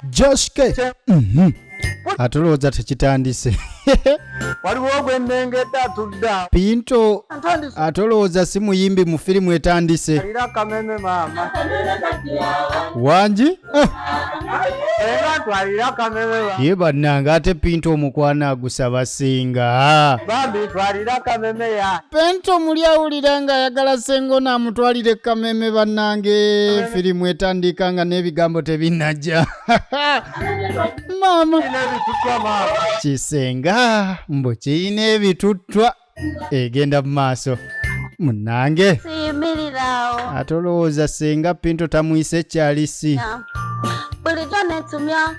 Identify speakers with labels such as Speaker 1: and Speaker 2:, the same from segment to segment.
Speaker 1: joske mhm. atulowooza tekitandise
Speaker 2: waliwo ogwennengedde atudde awo pinto
Speaker 1: ntandise ate olowooza si muyimbi mu firimu etandise alira akameme
Speaker 2: maama wangi
Speaker 1: Ah,
Speaker 2: era twalira akameme ba- ye bannange ate
Speaker 1: pinto omukwano agusaba singa bambi twalira
Speaker 2: akameme ya penti omuli awulira
Speaker 1: ng'ayagala sengo n'amutwalira ekkameeme bannange firimu etandiika nga n'ebigambo tebinnajja maama
Speaker 2: kisenga
Speaker 1: mbu kirina ebituttwa egenda mu maaso munnange siyimirirawo
Speaker 3: ate olowooza
Speaker 1: senga pinto tamuyise ekyalisi
Speaker 3: bulijjo netumya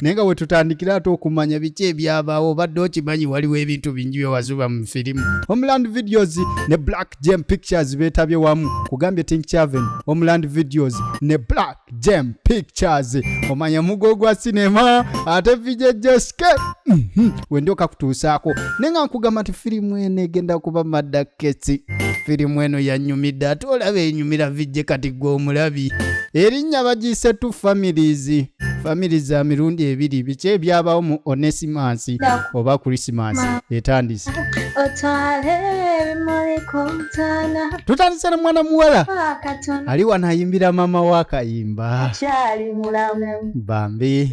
Speaker 1: naye nga wetutandikira ate okumanya biki ebyabaawo obadde okimanyi waliwo ebintu bingi byewazuba mu firimu homeland videos ne black jam pictures betabye wamu kugambye tink chaven homeland videos ne black jam pictures omanya mugo gwa sinema ate vijejeske mm -hmm. wendyoka kutuusaako naye nga nkugamba nti firimu eno egenda kuba madda ketsi firimu eno yanyumidde ate olaba enyumira vijje kati gwe omulabi erinnya bagiyise two families famili za mirundi ebiri biki ebyabawo mu onesimansi oba krisimansi etandise
Speaker 3: tutandise ne mwana
Speaker 1: muwala ali wano
Speaker 3: ayimbira
Speaker 1: maama we akayimba
Speaker 3: bambi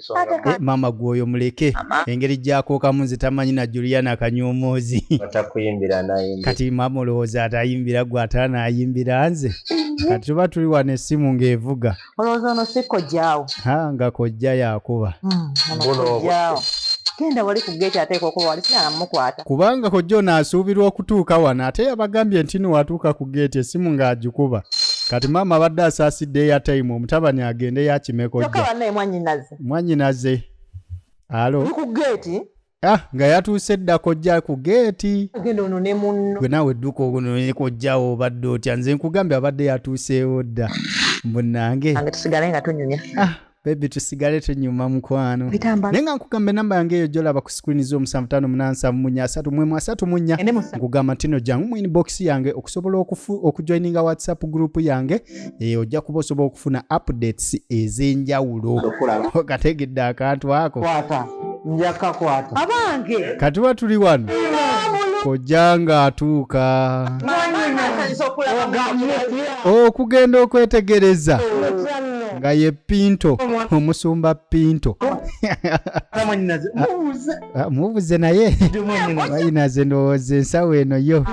Speaker 1: Eh, maama gwe oyo muleke engeri gyakokamu nze tamanyi na juliana kanyomoozi
Speaker 2: kati maama olowooza
Speaker 1: atayimbira gwe atanayimbira nze kati tuba tuli wano esimu ng'evuga nga
Speaker 4: kojja yakuba hmm, genda wali ku geeti
Speaker 1: ateeka okuba
Speaker 4: wali sinamukwata kubanga kojja ono
Speaker 1: asuubirwa okutuuka wano ate yabagambye nti niwatuuka ku geeti essimu ng'agikuba kati maama abadde asaasidde eyatayimu omutabani agende yakime kojjamwanyinaze alo
Speaker 4: ah, nga yatuuse
Speaker 1: dda kojja ku geeti
Speaker 4: gwe naawe dduka onoye
Speaker 1: kojjawo obadde otya nze nkugambye abadde yatuuseewo dda munange ah,
Speaker 4: bebi tusigale
Speaker 1: tunyuma mukwano naye nga nkugamba enamba yange eyo gyolaba ku sikirini zo omusanvu tano munansavu munya asatu mwemu asatu munya nkugamba ntino jangu mu inbox yange okusobola okujoininga whatsapp group yange eyo ojja kuba osobola okufuna updates ez'enjawulo kategedde akantu ako njakakwata
Speaker 2: abange
Speaker 4: katuba tuli wano
Speaker 1: kojja ng'atuuka okugenda okwetegereza nga ye pinto omusumba pinto ah, mubuze naye mwanyinaze ndowooza ensawo eno yo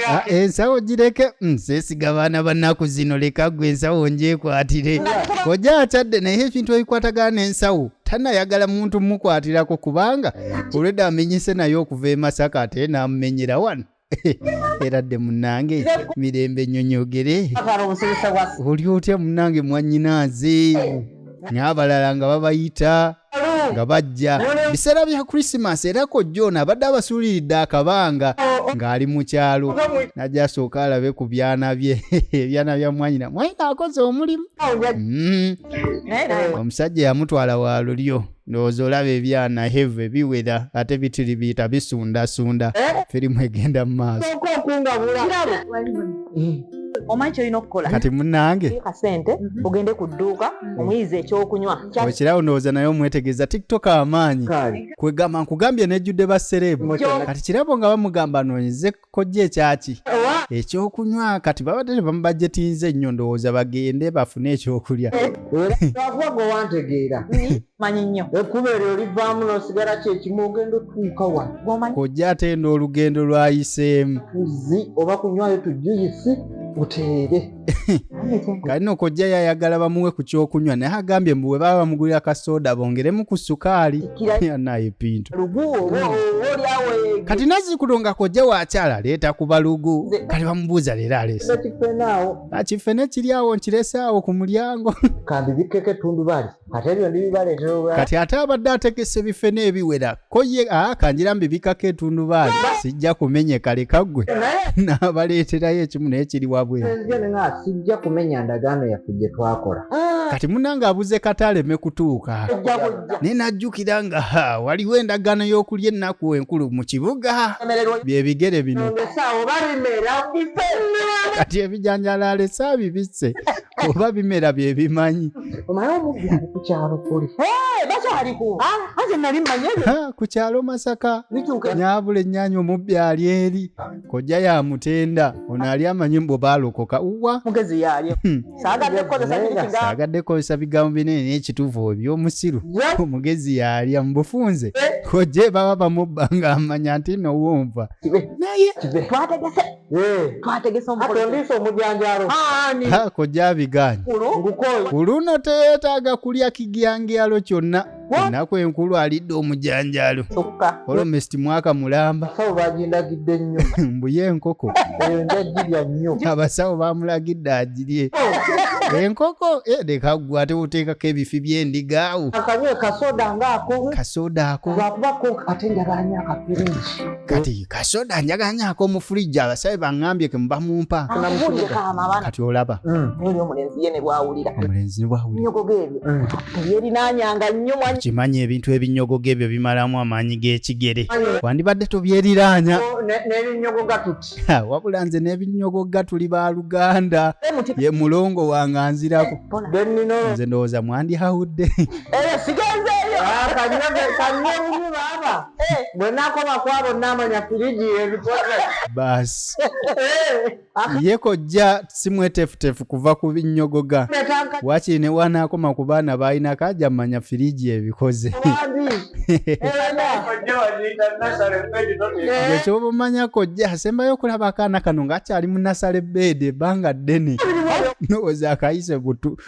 Speaker 2: ah, ensawo
Speaker 1: gireke mm, sesiga baana bannaku zino leka gwe ensawo njekwatire koja akyadde naye ekintu ebikwatagana n'ensawo tanayagala muntu mukwatirako kubanga olwedda amenyese naye okuva e masaka ate namumenyera wano era dde munange mirembe nyonyogere Akwara obusirise bwa oli otya munange mwanyinaaze n'abalala nga babayita Ssalu. nga bajja biseera bya krisimas era kojja ono abadde abasuuliridde akabanga ng'ali mu kyalo najja asooka alabe ku byana bye ebyana bya mwanyina mwanyina akoze omulimu Awo nja- Mm, Naye nawe. omusajja yamutwala wa lulyo ndowooza olaba ebyana heve biwera ate bitiri biyita bisundasunda eh? firimu egenda mu maaso
Speaker 4: omanyi kyolina okukola kati munange
Speaker 1: kasente mhm.
Speaker 4: ogende ku dduuka mhm. omuyizi ekyokunywa okirawo ndowooza naye
Speaker 1: omwetegeeza tiktok amaanyi kwegamba nkugambye nejjudde basereebu kati kirabo nga bamugamba noonyeze kojja ekyaki ekyokunywa kati babadde tebamubajetinze nnyo ndowooza bagende bafune ekyokulya akuba
Speaker 2: gwe wantegeera manyi nnyo
Speaker 4: ekkuba eryo olivaamu
Speaker 2: nosigala kyekimu ogenda otuuka wa kojja atenda
Speaker 1: olugendo lwayiseemu tuzzi
Speaker 2: oba kunywayo tujuyisi
Speaker 1: uteere kati no kojja yayagala bamuwe ku kyokunywa naye agambye mbu bwe baba bamugulira ka soda bongeremu ku sukaali naye pintu kati nazikulo nga kojja wakyala leeta ku balugu kati bamubuuza leero alese akifene kiri awo nkirese awo ku mulyango kambi bikkeko
Speaker 2: etundubali ate ebyo ndibibaleetera olwa kati ate abadde
Speaker 1: ategese ebife n'ebiwera ko ye aa kangira mbibikako etundubaali sijja kumenyeka leka ggwe naye n'abaleeterayo ekimu naye kiri wabweru nzija ne nga sijja
Speaker 2: kumenya ndagaano yaffe gye twakola kati munange
Speaker 1: abuze kata aleme kutuuka ojja kujja naye n'ajjukira nga ha waliwo endagaano y'okulya ennaku enkulu mu kibuga emererwa bye bigere bino ngesaawo oba bimera bife kati ebijanjalo alese abibisse oba bimera bye bimanyi omala
Speaker 2: omubbira ku kyalo kuli
Speaker 4: bakyaliko anze nali mmanye ku kyalo masaka
Speaker 1: nyabula ennyanya omubbi ali eri kojja ya mutenda ono ali amanyi mbu baalokoka uwa mugezi yalye
Speaker 4: hmm.
Speaker 1: saagadde kukozesa bigambo binene n'ekituufu ebyomusiru omugezi yalya mu bufunze eh. kojje baba bamubba ng'amanya nti nowunva naye twategese
Speaker 4: twategeseondiisa
Speaker 2: omujanjalo kojja
Speaker 1: abigaanyi ku luno teyeetaaga kulya kigyangyalo kyonna ennaku enkulu alidde omujanjalo olomesiti mwaka mulamba
Speaker 2: mbuye enkoko abasawo bamulagidde
Speaker 1: agirye enkoko eh, leka gwe ate oteekako ebifi by'endigaawo
Speaker 2: kasoda ako kati
Speaker 1: kasoda njagala nyako omufulija abasabe bangambye ke muba mumpa kati olaba
Speaker 4: kimanyi ebintu ebinyogoga
Speaker 1: ebyo bimalamu amaanyi g'ekigere wandibadde tobyeriranya
Speaker 2: wabula nze
Speaker 1: n'ebinyogoga tuli ba luganda ye mulongo wange anzirako nze ndowooza mwandihawudde eh,
Speaker 2: Eh, bwe nakoma kwabo namanya firiji ebikoze baasi
Speaker 1: eh, ye kojja si mwetefutefu kuva ku binnyogoga wakiri ne wanaakoma ku baana baalina kaja manya firiji ebikoze ekyoba omanya kojja asembayo okulaba akaana kano ng'akyali mu nasale beedi ebbanga ddene nowooza akayise butu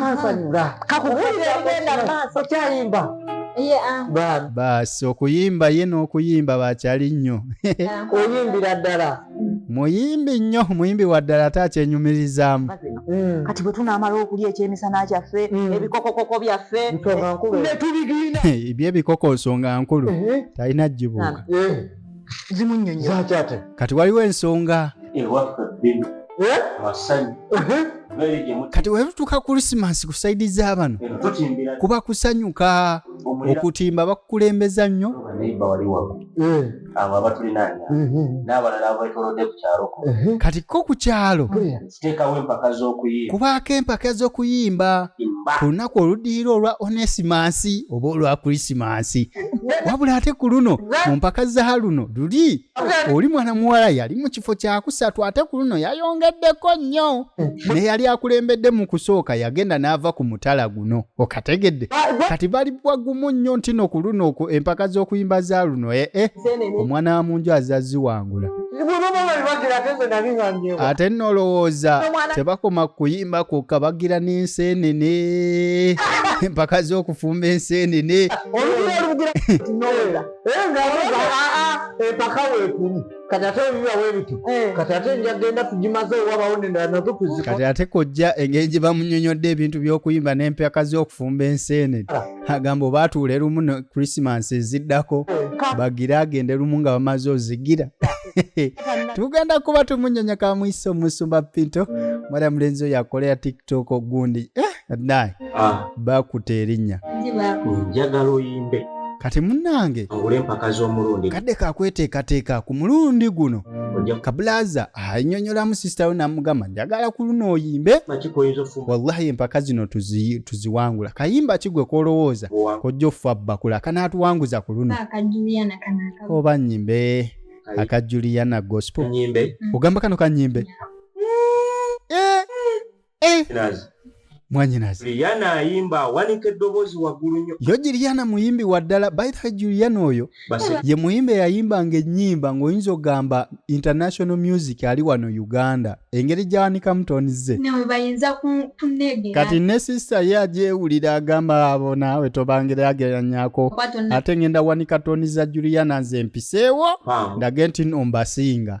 Speaker 1: kansanyula kakubulira ebigenda mu maaso okyayimba baasi okuyimba ye n'okuyimba bakyali nnyo oyimbira
Speaker 2: ddala muyimbi
Speaker 1: nnyo muyimbi wa ddala ate akyenyumirizaamu mm. kati bwe
Speaker 4: tunaamala okulya ekyemisana kyaffe mm. ebikokokoko byaffe netubigina
Speaker 2: ebyebikoko
Speaker 1: nsonga nkulu talina jjibuuka
Speaker 4: zimunyonyoakyate
Speaker 2: kati waliwo ensonga
Speaker 1: kati wetutuka krisimansi ku saidi za bano kuba kusanyuka okutimba bakukulembeza nnyo
Speaker 5: kati ko ku
Speaker 1: kyalo tuteekawo empaka
Speaker 5: z'okuyimba kubaako empaka
Speaker 1: z'okuyimba ku lunaku oluddirira olwa onesimansi oba olwa krisimansi wabula ate ku luno mu mpaka za luno luli oli mwana muwala yali mu kifo kyakusatu ate ku luno yayongeddeko nnyo ne yali akulembedde mu kusooka yagenda n'ava ku mutala guno okategedde kati bali bwagumu nnyo ntino ku luno empaka z'okuyimba za luno ee eh, eh. omwana wa munju azaziwangula ate nno olowooza tebakoma kuyimba kwokka bagira n'enseenene empaka z'okufumba enseenene empaka weekuli kati ate ebiba webiti eh. kati ate nja genda tugimaze
Speaker 2: wabawo nendala nazo tuzika kati ate kojja
Speaker 1: engeri gye bamunyonyodde ebintu by'okuyimba n'empaka z'okufumba enseenene agamba oba atuule lumu ne krisimansi eziddako bagire agende lumu nga bamaze ozigira tugenda kuba tumunyonya kamwisa omusumba pinto mwala mulenzi oyo akolera tiktok ogundi eh, naye ah.
Speaker 5: bakuta
Speaker 1: erinnya njagala oyimbe kati munange
Speaker 5: kadde kakweteekateeka
Speaker 1: ku mulundi guno kabulaza anyonyolamu sisita we namugamba njagala ku luno oyimbe
Speaker 5: wallahi empaka zino
Speaker 1: tuziwangula kayimba kigwe kolowooza kojja offa bbakula kanaatuwanguza ku luno
Speaker 3: oba nyimbe
Speaker 1: aka juliana gospel ogamba kano
Speaker 5: kanyimbe eh. mwanyinazi
Speaker 1: juliana ayimba
Speaker 5: awanika eddoboozi waggulu nnyo yo juliana muyimbi
Speaker 1: wa ddala baithe juliana oyo ye muyimbi
Speaker 5: eyayimbanga
Speaker 1: ennyimba ng'oyinza okugamba international music ali wano uganda engeri gyawanikamu tonize
Speaker 3: kati ne sisita
Speaker 1: ye agyewulira agamba abo naawe tobangere ageranyako ate ngenda wanika toni za juliana nze mpiseewo ndage nti
Speaker 5: nombasinga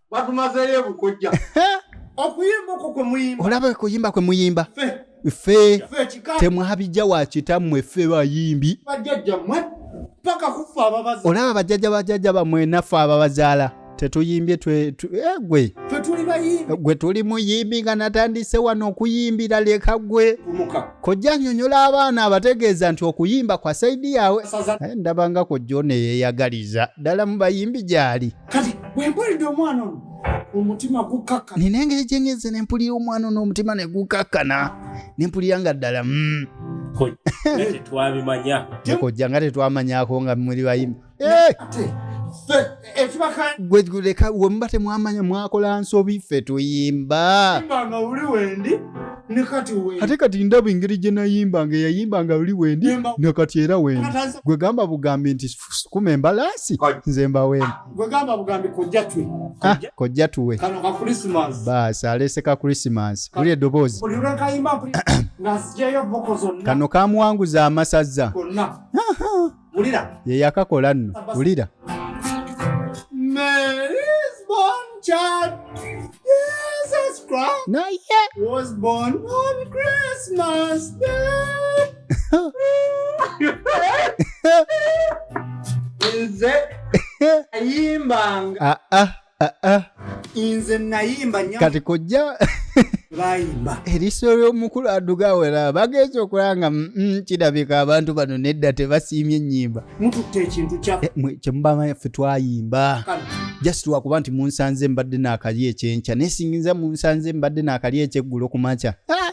Speaker 2: batumazeeyo ebukojja okuyimba okwo kwe muyimba
Speaker 1: olaba okuyimba kwe muyimba ffe
Speaker 2: temwabijja wa
Speaker 1: kitammwe ffe bayimbi bajjajjammwe
Speaker 2: paka kuffe ababaza olaba bajjajja bajjajja
Speaker 1: bamwe naffe ababazaala tetuyimbye twegwe eh,
Speaker 2: gwe tuli muyimbi
Speaker 1: nga natandise wano okuyimbira leka gwe kojja
Speaker 2: nyonyola
Speaker 1: abaana abategeeza nti okuyimba kwa saidi yawe eh, ndabanga kojja oneyeyagaliza ddala mu bayimbi gyali kati bwempulidde
Speaker 2: omwana ono omutima gukakkana nina engeri gyengeze
Speaker 1: nempulira omwana ono omutima ne gukakkana nempulira nga ddala mm.
Speaker 5: kojja nga
Speaker 1: tetwamanyako nga muli bayimbi
Speaker 2: gweguleka eh!
Speaker 1: wemuba temwamanya mwakola nsobi ffe tuyimba
Speaker 2: ate kati ndaba engeri gye
Speaker 1: nayimbanga eyayimbanga luli wendi nakati era wendi gwegamba bugambi nti sukuma embalaasi nze mbaweemu
Speaker 2: ah, kojja tuwe baasi aleese ka
Speaker 1: krisimansi buli eddoboozi
Speaker 2: kano kamuwanguza
Speaker 1: amasazza
Speaker 2: yeyakakola
Speaker 1: nno wulira
Speaker 2: naye nze ayimbanga ah, ah, ah, nze nayimba kati kojja
Speaker 1: bayimba
Speaker 2: eriso ly'omukulu
Speaker 1: aduga wera bagenza okulanga mm, mm, kirabika abantu bano nedda tebasiimye ennyimba mututte ekintu
Speaker 2: kyaffe eh, kyemubamanyi ffe
Speaker 1: twayimba just
Speaker 2: lwakuba nti
Speaker 1: munsanze mbadde naakali ekyenkya naye singinza munsanze mbadde naakali ekyeggulo ku makya ah!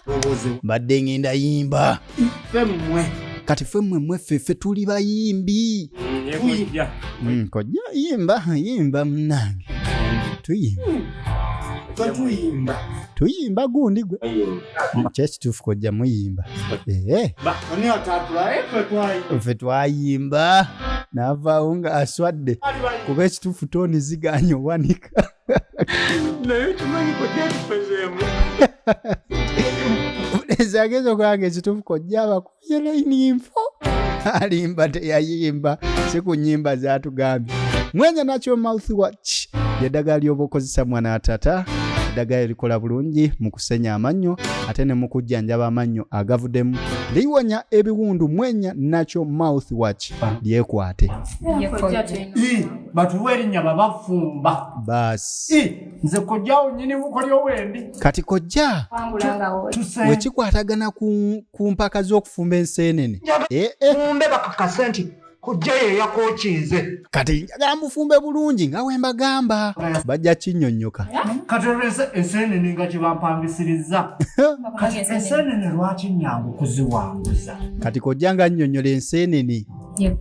Speaker 1: mbadde ngenda yimba
Speaker 2: kati ffe mmwe
Speaker 1: mweffe ffe tuli bayimbi mm, kojja yimba yimba munange tuyimba hmm. tuyimba gundi gwe kyekituufu kojja muyimba eh.
Speaker 2: ffe twayimba
Speaker 1: navaawo nga aswadde kuba ekituufu toni ziganye owanika ezagezi okulanga ekituufu kojja abaku ye layini nfo alimba teyayimba si ku nyimba zatugambye mwenya nakyo mouth watch yeddaga lyoba okozesa mwana atata eddagala erikola bulungi mu kusenya amannyo ate ne mu kujjanjaba amannyo agavuddemu liwonya ebiwundu mwenya nakyo mouth watch lyekwate
Speaker 2: batuwa erinnya babafumba basi
Speaker 1: nze kojjawo
Speaker 2: nyini mukolyo wendi kati kojja
Speaker 1: wekikwatagana ku ku mpaka z'okufumba enseenene eh, eh. fumbe
Speaker 2: bakakase nti kujja ye yakokinze kati njagala
Speaker 1: mufumbe bulungi nga we mbagamba bajja kinnyonnyoka kati olwese
Speaker 2: enseenene nga kye bampangisirizza kati
Speaker 1: enseenene
Speaker 2: lwaki
Speaker 1: nnyangu kuziwanguza
Speaker 2: kati
Speaker 1: kojja nga
Speaker 2: nnyonnyola
Speaker 1: enseenene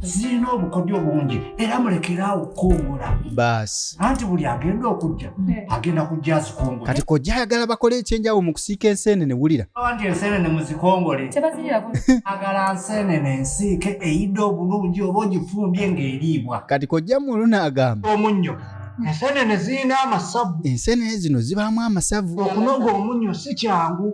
Speaker 6: zirina obukodyo bungi era mulekeraawo okukongola baasi anti
Speaker 1: buli agenda
Speaker 6: okujja mm. agenda kujja azikongola kati kojja ayagala
Speaker 1: bakole ekyenjawo mu kusiika enseenene wulira anti enseenene
Speaker 6: muzikongole agala nseenene ensiike eyidde obulungi oba ogifumbye ng'eriibwa kati kojja muluna
Speaker 1: agamba omunnyo
Speaker 6: enseenene zirina amasavu enseenene zino zibaamu
Speaker 1: amasavu okunoga omunnyo
Speaker 6: si kyangu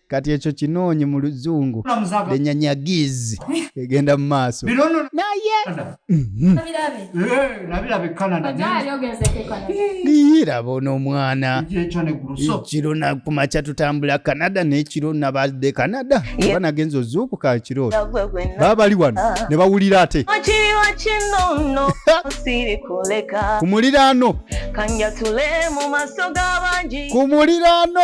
Speaker 1: kati ekyo kinoonye mu luzungu lenyanyagizi egenda mu maaso
Speaker 6: naye mhm. niyiraba
Speaker 1: ono omwana ekiro nakumakya tutambula canada nekiro nabadde canada oba nagenza ozuukuka ekiro baba bali wano ah. ne bawulira ate ku muliraano ku muliraano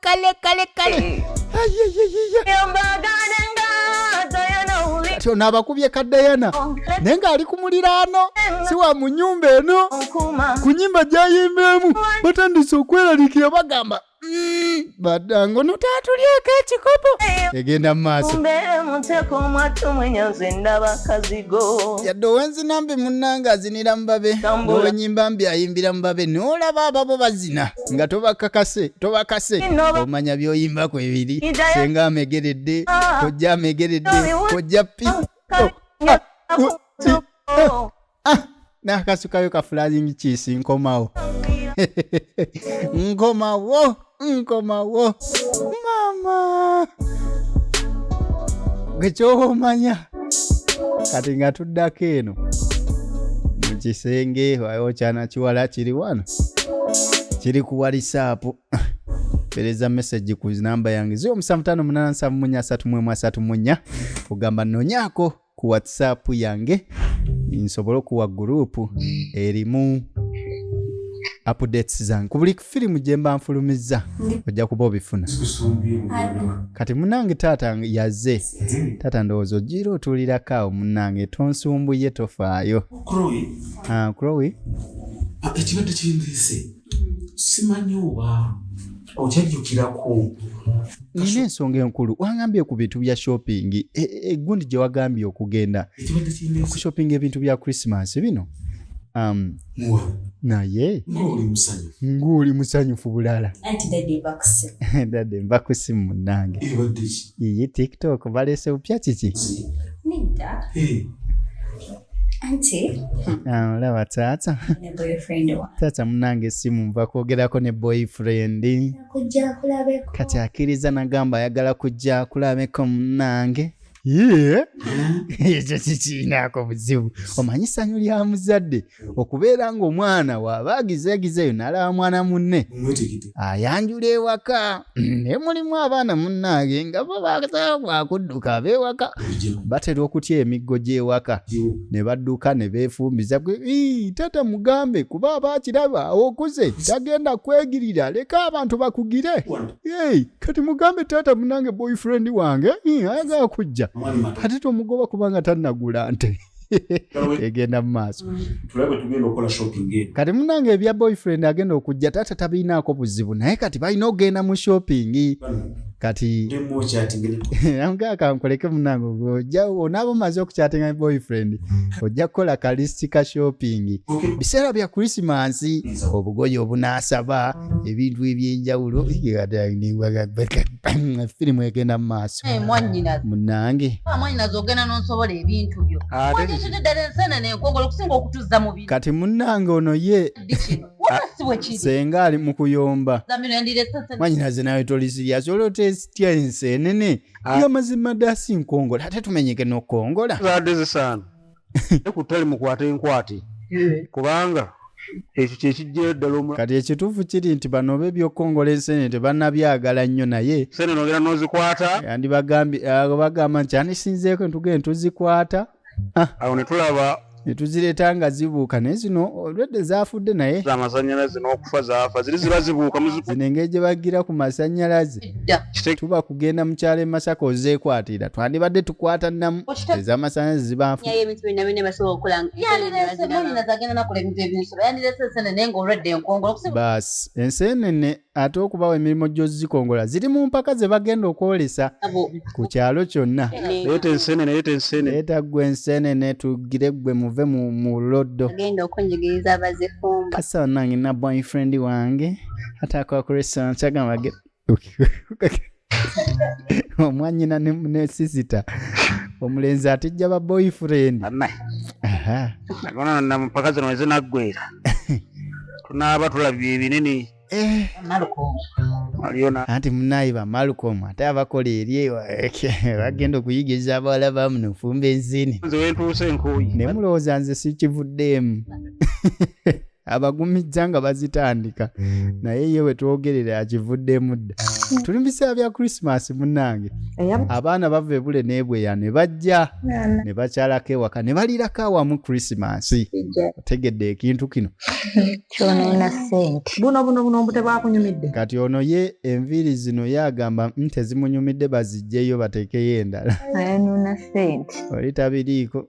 Speaker 1: kale kale kale kyo nabakubye ka dayana naye ng'ali ku muliraano si wa mu nyumba eno ku nyimba gyayimbeemu batandise okweralikira bagamba badango ono taatulyeko ekikopo egenda mu maaso mbeere muteeka omwattu mwenya nze ndaba kazigo yadde owenzina mbi munnange azinira mubabe nowenyimba mbi ayimbira mubabe noolaba ababo bazina nga tobakakase tobakase omanya byoyimba ku ebiri senga amegeredde ah. kojja amegeredde kojja pi oh, ah, oh, oh. ah, nakasukayo kafulazingi kisi nkomawo nkomawo nkomawo mama gwekyobomanya kati nga tuddako eno mu kisenge wayo kyana kiwala kiri wano kiri ku walisaapu pereza message ku namba yange 0 omusanvu tano munana nsanvu munya asatu mwemu asatu munya ogamba nonyako ku whatsapp yange nsobole okuwa group erimu updates zange ku buli firimu gye mba nfulumizza ojja kuba obifuna kati munange taata yaze taata ndowooza ogira otuulirako awo munange tonsumbuye tofaayo ah, ah,
Speaker 7: ekibadde kindiise simanyi oba okyajjukirako
Speaker 1: nina ensonga enkulu wangambye ku bintu bya shopping e, e, egundi gye wagambye okugenda shopping ebintu bya christmas bino um, naye ng'oli musanyufu bulala dade nva ku simu munange iye tiktok balese bupya kiki Ah, olaba taata taata munange esimu nva kwogerako ne boyfriend kati akiriza nagamba ayagala kujja akulabeko munange ekyo kikiinaako buzibu omanyi sanyu lya muzadde okubeera ng'omwana waaba agizeegizeeyo nalaba mwana munne ayanjula ewaka naye mulimu abaana munnaage nga bo basaa wakudduka abewaka batera okutya emiggo gy'ewaka ne badduka ne beefumbiza gwe tata mugambe kuba aba akiraba okuze tagenda kwegirira leka abantu bakugire kati mugambe taata munange boyfriend wange ayagala kujja ate tomugoba kubanga tannagula nte egenda mu maaso kati munange ebya boyfriend agenda okujja taata tabirinaako buzibu naye kati balina okugenda mu shopping kati amugakankoleke munange oja onaaba omaze okukyatinga boyfriend ojja kukola kalisiti ka shopping biseera bya krisimansi obugoyi obunaasaba ebintu ebyenjawulo firimu egenda mu maaso eh, munange ah, kati munange ono ye senga ali mu kuyomba mwanyinaze nawe tolisiryasi olwotesitya ensi enene ah. yo mazima dasi nkongola ate tumenyeke nokongola
Speaker 8: ne ku ttale mukwate enkwate kubanga ekyo kyekijjayo ddala omu kati ekituufu kiri
Speaker 1: nti bano oba ebyokukongola ensenene tebanabyagala nnyo naye sene nogera nozikwata
Speaker 8: yandibagamba
Speaker 1: nti anisinzeeko entugee ntuzikwata ah. awo
Speaker 8: netulaba netuzireeta nga
Speaker 1: zibuuka naye zino olwedde zafudde naye amasanyalaze n'okufa
Speaker 8: zafa ziri ziba zibuuka zino engeri gye bagira
Speaker 1: ku masanyalaze edda tuba kugenda mukyalo emasaka ozekwatira twandibadde tukwata namu ezamasanyalaze zibanfuebintu byonna byonna basobola okukola bas enseenene ate okubawa emirimu gyozikongola ziri mu mpaka ze bagenda okwolesa ku kyalo kyonna
Speaker 8: etaggwa
Speaker 1: enseenene tugire gwe muve mu loddo kasana nange na boyfriend wange ate akola ku restaurant kyagamba ge omwanyina ne ne sisita omulenzi atijja ba boyfriend banaye Aha.
Speaker 8: nagona na mpaka zino wezinaggwera tunaaba tulabye ebinene Eh, waliyo
Speaker 1: na anti munaye ba malcolm ate abakola eri ewa- bagenda okuyigiza abawala bamuno ofumba enzini nze wentuuse enkuuyi
Speaker 8: nemulowooza nze
Speaker 1: sikivuddeemu abagumizza nga bazitandika hmm. naye ye wetwogerera akivuddemu dda hmm. tuli mubiseera bya christmas munange abaana bava ebule nebweya ne bajja ne bakyalako ewaka ne balirako awamu christmas otegedde ekintu kino
Speaker 2: kati ono ye
Speaker 1: enviiri zino ye agamba nti ezimunyumidde bazijjeyo batekeyo endala
Speaker 4: oli tabiriiko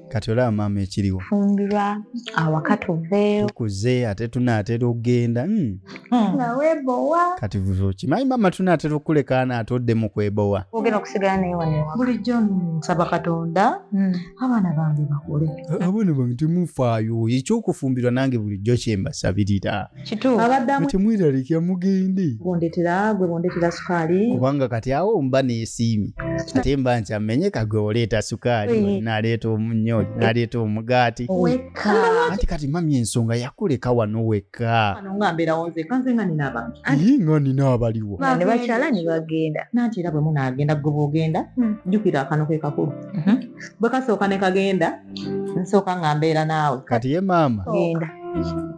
Speaker 4: kati olaba maama
Speaker 1: ekiriwo fumbirwa
Speaker 4: awaka tuveeyo tukuze ate
Speaker 1: tunaatera okugenda hmm. hmm. nawebowa
Speaker 2: kati
Speaker 1: kimanyi maama tunaatera okukulekaana ate oddemu kwebowa ogenda okusigala naye
Speaker 4: wanewa bulijjo nsaba
Speaker 2: katonda hmm. abaana bange bakule abaana bange
Speaker 1: temufaayo ekyokufumbirwa nange bulijjo kyembasabirira kituufu abadde
Speaker 4: amu- temweraliikira
Speaker 2: mugende
Speaker 1: bondetera gwe bondetera
Speaker 2: sukaali kubanga kati awo mba
Speaker 1: nesiimye ate mba nkyammenye kagwe oleeta sukaali Oyi. naleeta omunnyo naleeta omugaati wekka anti kati mami ensonga yakuleka wano wekka wano nga mbeerawo nzeka
Speaker 2: nze nga nina abantu ye nga nina
Speaker 1: abaliwo Ba- ne bakyala ne
Speaker 4: bagenda nanti era bwe munaagenda
Speaker 2: gwe bwogenda jjukira akano ke kakulu bwe kasooka ne kagenda nsooka nga mbeera naawe kati ye maama
Speaker 1: genda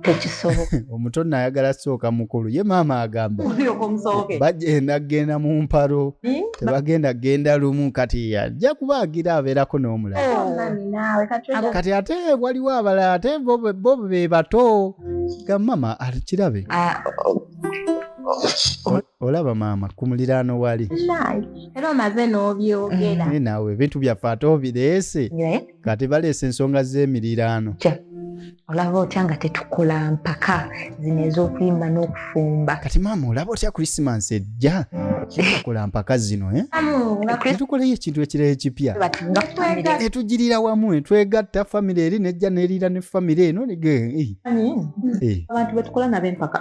Speaker 4: tekisoboka omuto nayagala
Speaker 1: sooka mukulu ye maama agamba bagenda kugenda mu mpalo hmm? tebagenda kugenda lumu kati ajja kuba agira abeerako n'omulakati oh, ate waliwo abalala ate bo be bato gamama akirabe ah, olaba maama ku muliraano wali era omaze
Speaker 3: n'obyogera eh, naawe ebintu
Speaker 1: byaffe ate obireese kati baleese ensonga z'emiriraano olaba
Speaker 4: otya nga tetukola mpaka zino ez'okuyimba n'okufumba kati maama olaba otya
Speaker 1: krisimansi ejja tukola mpaka zino eh? tukoleyo ekintu ekirala ekipya etugirira wamu etwegatta famire eri nejja neriira ne famire eno eh. eh. abantu
Speaker 2: betukola nabo empaka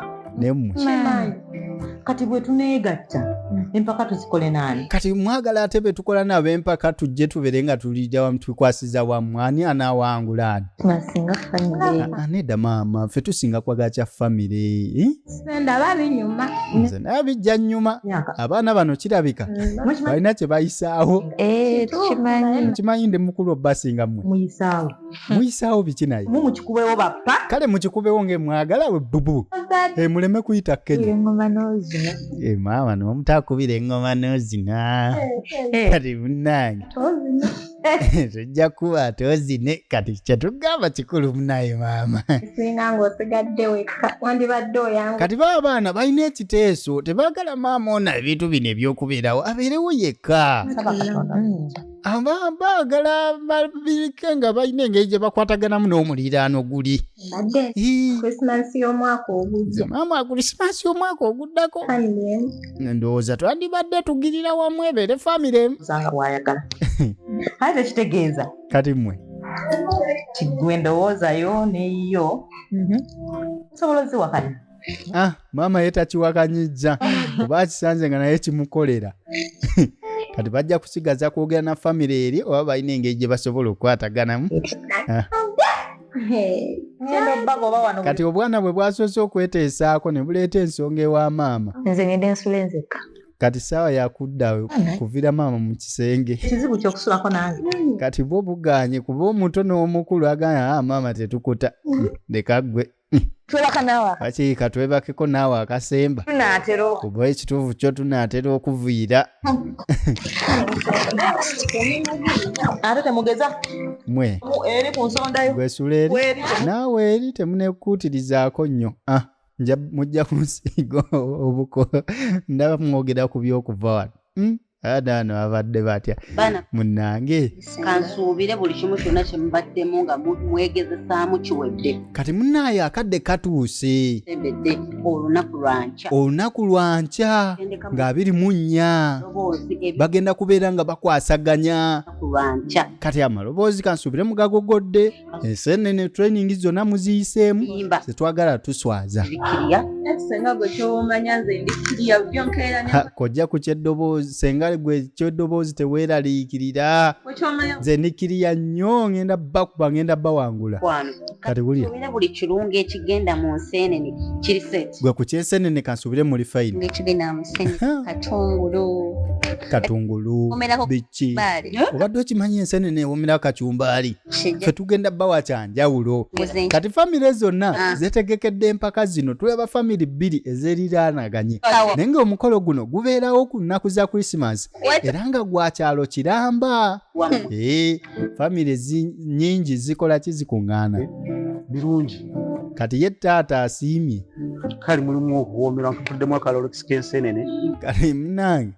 Speaker 2: kati bwetuneegatta hmm. empaka tuzikole naani kati mwagala ate
Speaker 1: betukola nabo empaka tujje tubere nga tulija wamu tukwasiza wamu ani anaawangula ani ah,
Speaker 4: ah, nedda maama
Speaker 1: fe tusinga kwaga kya famire eh?
Speaker 3: nze naye bijja
Speaker 1: nnyuma abaana bano kirabeka hmm. balina kye bayisaawo eh, mukimanyi ndi mukulu obasinga mwe hmm. muyisaawo biki naye mumukikubewo bappa
Speaker 2: kale mukikubewo nga
Speaker 1: emwagala we bubu eh, muleme kuyita kenyamaama
Speaker 4: eh,
Speaker 1: nomutakubira engoma nozina eh, kati munange tujja kuba tozine kati kyetugamba kikulu munaye maama
Speaker 3: kati baba abaana balina
Speaker 1: ekiteeso tebagala maama ona ebintu bino ebyokubeerawo abeerewo yekka baagala babirike nga balina engeri gye bakwataganamu n'omuliraano guli
Speaker 3: maama akulisimansi
Speaker 1: y'omwaka oguddako ndowooza twandibadde tugirira wamu ebeere famire aze kitegeeza kati
Speaker 2: mwe kigwe ndowoozayo neyiyo mhm. nsobola oziwakanya ah, maama
Speaker 1: ye takiwakanyijja oba akisanze nga naye kimukolera kati bajja kusigaza kwogera na famiry eri oba balina engeri gye basobola okukwataganamu ah. kati obwana bwe bwasoose okweteesaako ne buleeta ensonga ewa maama nze ngende nsula
Speaker 4: enzekka kati saawa
Speaker 1: yakudda kuvira maama mu kisenge kizibu kyokusulako
Speaker 2: nange kati bwo buganye
Speaker 1: kuba omuto n'omukulu agamba ah, maama tetukuta leka ggwe twebaka naawe
Speaker 4: kaki katwebakeko
Speaker 1: naawe akasemba tunaatera kuba
Speaker 4: ekituufu kyo
Speaker 1: tunaatera okuviira ate
Speaker 2: temugeza mwe eri
Speaker 1: ku nsonda
Speaker 2: yo gwesula eri
Speaker 1: naawe eri temunekuutirizaako nnyo ah, mujja kunsiiga obuko ndaba mwogera ku byokuva wano hmm? adaano abadde batya munange kansuubire
Speaker 9: buli kimu kyonna kyemubaddemu nga mwegezesaamu kiwedde kati munaayo
Speaker 1: akadde katuuse ebedde olunaku lwankya olunaku lwankya nga abiri mu nnya bagenda kubeera nga bakwasaganya kati amaloboozi kansuubire mugagogodde ensenene training zonna muziyiseemu zetwagala tuswaza
Speaker 2: kojja ku kyeddoboozi
Speaker 1: senga gwe kyeddoboozi teweeraliikirira nze ndikiriya nnyo ngenda bakuba ngenda bawangula kati wulira buli kirungo
Speaker 9: ekigenda mu nseenene kiri set gwe ku kyensenene
Speaker 1: kansubire muli fayini katungulu katungulu ki obadde okimanyi ensenene ewomera kacumbaali fe tugenda bawa kyanjawulo kati famire zonna ah. zetegekedde empaka zino tulaba famire bbiri ezeriraanaganye naye nga omukolo guno gubeerawo ku nnaku za krisimansi era nga gwa kyalo kiramba ee eh, famire nyingi zikola ki zikuŋŋaana birungi
Speaker 8: kati ye
Speaker 1: taata asiimye kali mulimu
Speaker 8: okuwoomera nkutuddemu akalolekisi k'enseenene kale munange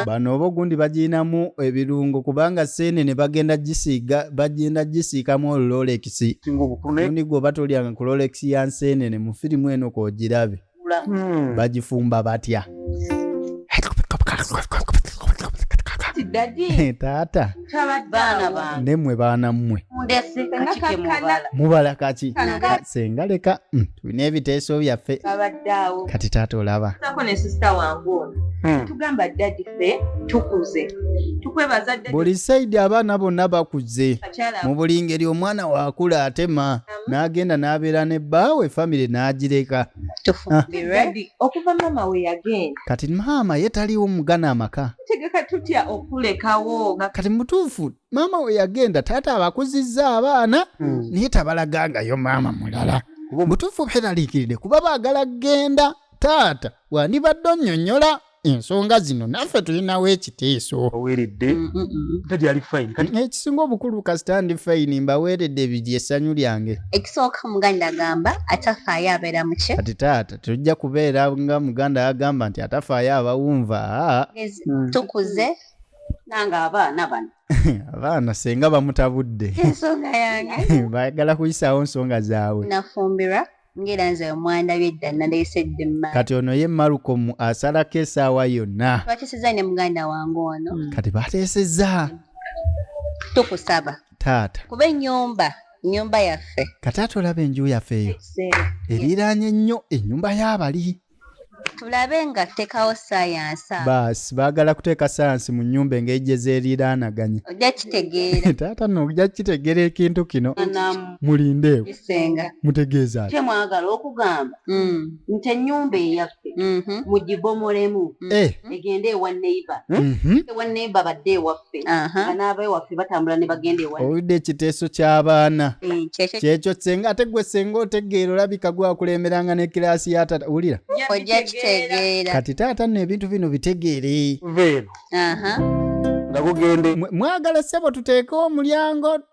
Speaker 1: bano oba ogundi bagirinamu ebirungo kubanga seenene bagenda gisiiga bagenda gisiikamu olulolekisi singa obukulu naye muni gwoba tolyanga ku lolekisi ya nseenene mu firimu eno koogirabe hmm. bagifumba batya taata nemwe baana mmwe mubala kaki senga leka hmm, tulina ebiteeso byaffe kati taata olaba
Speaker 2: hmm. buli saidi abaana
Speaker 1: bonna bakuze mu buli ngeri omwana wakula atema n'agenda n'abeera ne bbaawe famire n'agireka ah.
Speaker 2: okuva maama we yagenda kati maama ye
Speaker 1: taliwo mugana amaka tegeka tutya
Speaker 2: okulekawo kati mutuufu
Speaker 1: maama we yagenda taata abakuzizza abaana hmm. naye tabalagangayo maama mulala mutuufu beraliikiridde kuba baagala kugenda taata wandibadde onnyonnyola ensonga zino naffe tulinawo ekiteeso oweredde mm, mm,
Speaker 8: mm, tadi ali fine kati ekisinga obukulu
Speaker 1: kasita ndi fine mbaweredde biri essanyu lyange ekisooka muganda
Speaker 9: agamba atafaayo abeera muki kati taata tujja
Speaker 1: kubeera nga muganda agamba nti atafaayo abawunva tukuze
Speaker 9: nange abaana bano abaana
Speaker 1: senga bamutabudde ensonga yange
Speaker 9: baagala kuyisaawo
Speaker 1: nsonga zaabwe nafumbirwa
Speaker 9: ngera nze omwandabye dda naleese ddemma kati ono ye malukom
Speaker 1: asalako esaawa yonna bateseza ne muganda
Speaker 9: wange ono hmm. kati bateseza tukusaba taata
Speaker 1: kuba enyumba
Speaker 9: enyumba yaffe kati ate olaba enju
Speaker 1: yaffe eyo eriraanye nnyo enyumba y'abali tulabe
Speaker 9: nga tutekawo sayansi baasi baagala
Speaker 1: kuteeka sayansi mu nyumba engeri gye zeeriraanaganya ojja kitegeera
Speaker 9: taata no ojja
Speaker 1: kitegeera ekintu kino mulindeewo mutegeeza kye mwagala okugamba
Speaker 9: mm. nti ennyumba eyaffe mm-hmm. mugibomolemu mm. eh. egende ewa neiba mm-hmm. ewa neiba badde ewaffe baffe nga n'abeewaffe batambula ne bagenda ewa owulidde ekiteeso
Speaker 1: ky'abaana eh, kyekyo senga ate gwe senga otegeera olabika gwakulemberanga ne kiraasi ya tata wulira ojja kitegeera
Speaker 9: kati taata nno ebintu
Speaker 1: bino bitegeere veeno
Speaker 8: nga gugende mwagala ssebo tuteekewo
Speaker 1: omulyango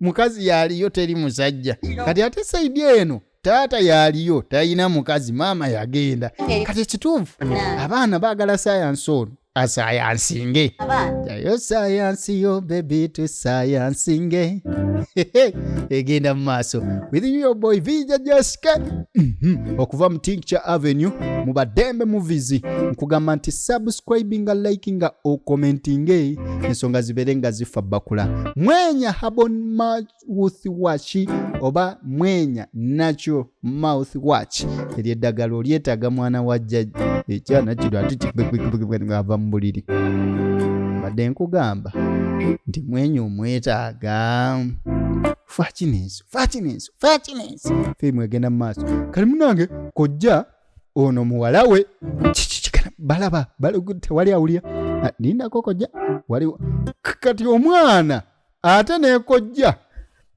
Speaker 1: mukazi yaliyo teri musajja kati ate saidi eno taata yaliyo talina mukazi maama yagenda kati ekituufu abaana baagala sayansi ono asayansinge yayo sayansi yo bebi tusayansinge egenda mu maaso with you your boy vija jessica mhm. okuva mu tincture avenue mu badembe movies nkugamba nti subscribinga likinga okomentinge ensonga zibeere nga zifa bakula mwenya habon mouth watch oba mwenya natural mouth watch eryo eddagala olyetaaga mwana wa jjajja ekyana kino ati ava mu buliri mbadde nkugamba nti mwenya omwetaaga fakinenso fakinenso fakinenso firimu egenda mu maaso kali munange kojja ono muwala we kikikikana balaba tewali awulira ah, nindako kojja waliwo kati omwana ate nekojja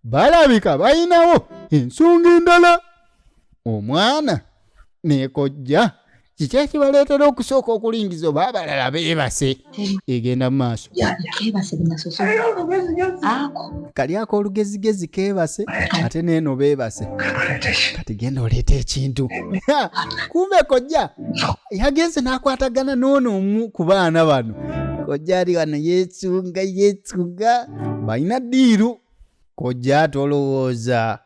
Speaker 1: balabika balinawo ensonga endala omwana nekojja kiki ekibaleetera okusooka okulingiza oba abalala beebase egenda mu maaso kali ako olugezigezi keebase ate neeno beebase kati genda oleeta ekintu kumbe kojja yagenze n'akwatagana noono omu ku baana bano kojja ali wano yeesunga yeesunga balina diiru kojja tolowooza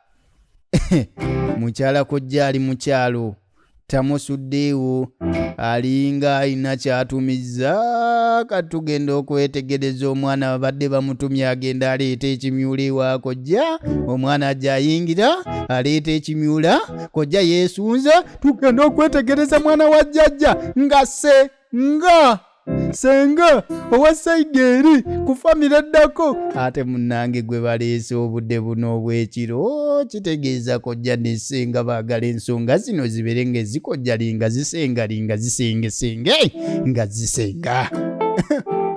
Speaker 1: mukyala kojja ali mukyalo tamusuddeewo alinga alina kyatumizza katugenda okwetegereza omwana babadde bamutumye agenda aleeta ekimyula ewa kojja omwana ajja ayingira aleeta ekimyula kojja yeesunza tugenda okwetegereza mwana wa jjajja ngase nga senga owa saidi eri ku famire ddako ate munange gwe baleese obudde buno obwekiro oh, kitegeeza kojja ne senga baagala ensonga zino zibeere nga ezikojjali nga zisengari nga zisengesenge nga zisenga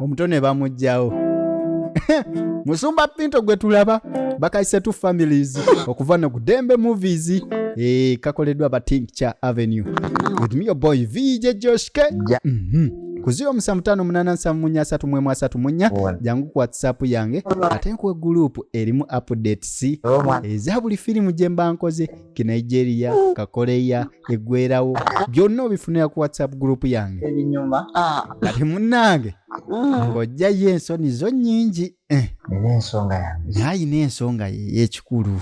Speaker 1: omuto ne bamugjawo musumba pinto gwe tulaba bakayise tu families okuva no kudembe movies eh, kakoleddwa batink kya avenue with me your boy vj josh k yeah. mm -hmm. ku 07587334 jangu ku whatsapp yange ate nkuwe gurupu erimu updates eza buli firimu gye mba nkoze ke nigeria kakoreya eggwerawo byonna obifunira ku whatsapp gurupu yange
Speaker 2: kati
Speaker 1: munnange ng'ojjayo ensoni zo nnyingi Eh. nina ensonga
Speaker 2: yange naye alina ensonga ye
Speaker 1: yekikulu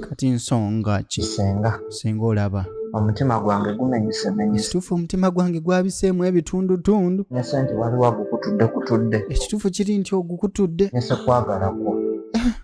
Speaker 1: kati nsonga ki senga senga olaba omutima gwange
Speaker 2: gumenyisemenyekituufu omutima gwange
Speaker 1: gwabiseemu ebitundutundu nese nti waliwo
Speaker 2: agukutudde kutudde ekituufu kiri nti
Speaker 1: ogukutudde nese kwagalakwo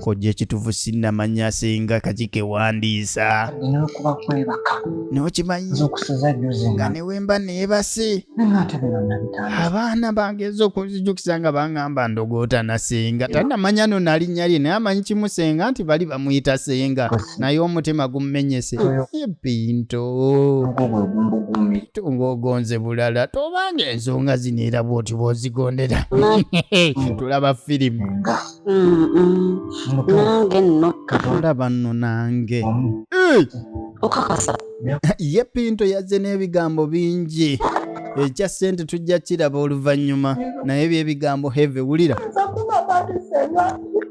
Speaker 1: kojja ekitufu sinamanya singa kakike wandiisa nokimanyinga
Speaker 2: newemba
Speaker 1: nebase abaana bangeeza okunzijukiza nga bangamba ndogoota nasenga tanamanya no nalinnya lye naye amanyi kimu senga nti bali bamuyita senga naye omutima gummenyese ebintu ng'ogonze bulala tobanga ensonga zino era bwoti bwozigondera tulaba firimu nange
Speaker 9: nno tulaba nno
Speaker 1: nange
Speaker 9: okakasa ye
Speaker 1: pinto yazze n'ebigambo bingi ekya ssente tujja kiraba oluvannyuma naye byebigambo heve wulira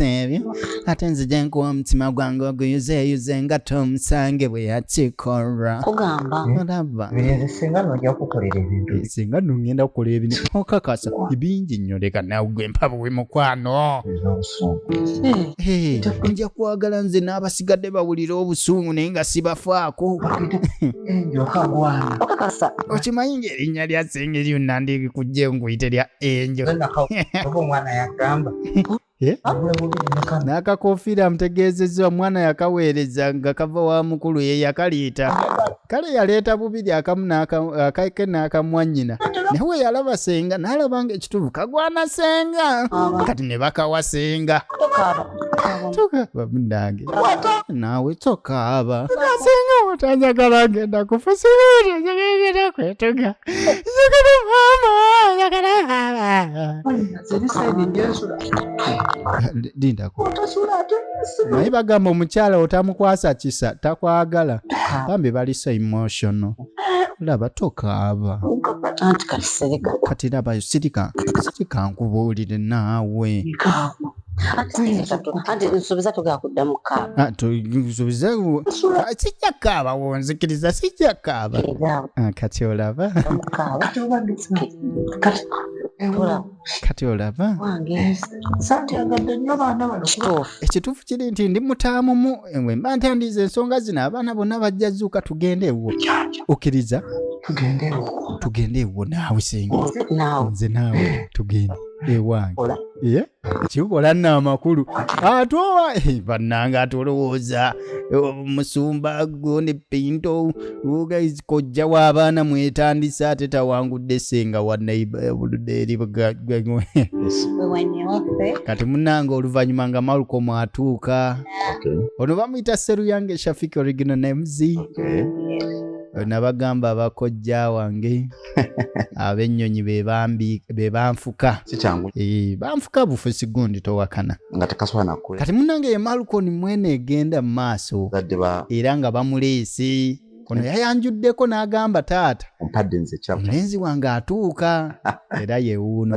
Speaker 1: ebyo ate nzija nkuwa omutima gwange oguyuzeyuze nga tomusange bwe yakikolwa kugamba
Speaker 9: olaba
Speaker 1: singa nojja
Speaker 5: kukolera ebintu singa nongenda kukola
Speaker 1: ebintu okakasa ebingi nnyo leka nawe gwe mpabuwe mukwano nja kwagala nze n'abasigadde bawulira obusungu naye nga sibafaako okakasa
Speaker 9: okimanyi ng'erinnya
Speaker 1: lya sengeri yonna ndikujja enkuyite lya enjo
Speaker 5: eh?
Speaker 1: n'akakofiira amutegeezezza omwana yakaweereza nga kava wa mukulu ye yakaliita kale yaleeta bubiri akamu akake n'akamwanyina nawe yalaba senga n'alaba nga ekituufu kagwana senga kati ne bakawa senga tokaaba munange naawe tokaaba singa otanjagala ngenda kufa singa otanjagala ngenda kwetuga njagala maama njagala lindako naye bagamba omukyala otamukwasa kisa takwagala bambi bali so emotional laba tokaaba anti kati sirika kati labayo sirika sirika nkubuulire naawe
Speaker 9: nsuubiza
Speaker 1: sijja kaaba wonzikiriza sijja kaaba ah, kati olaba kati olaba ekituufu kiri nti ndi mutaamumu engwe mba ntandiiza ensonga zino abaana bonna bajja zuuka tugende ewo okkiriza tugende ewo naawe senga nze naawe tugende ewange eh? kikola nno amakulu ate owa eh, bannanga atolowooza eh, musumba gwo ne pinto guys kojja w'abaana mwetandise ate tawangudde senga wanaibkati munange oluvannyuma nga maluko mwatuuka ono bamuyita seruyange shafik original names nabagamba abakojja wange abennyonyi bebanfuka eh, banfuka bufe sigundi towakana kati
Speaker 7: munange ye malukoni
Speaker 1: mwena egenda mu maaso era nga bamuleese ono yayanjuddeko n'agamba taata omulenzi
Speaker 7: wange
Speaker 1: atuuka era yewuuno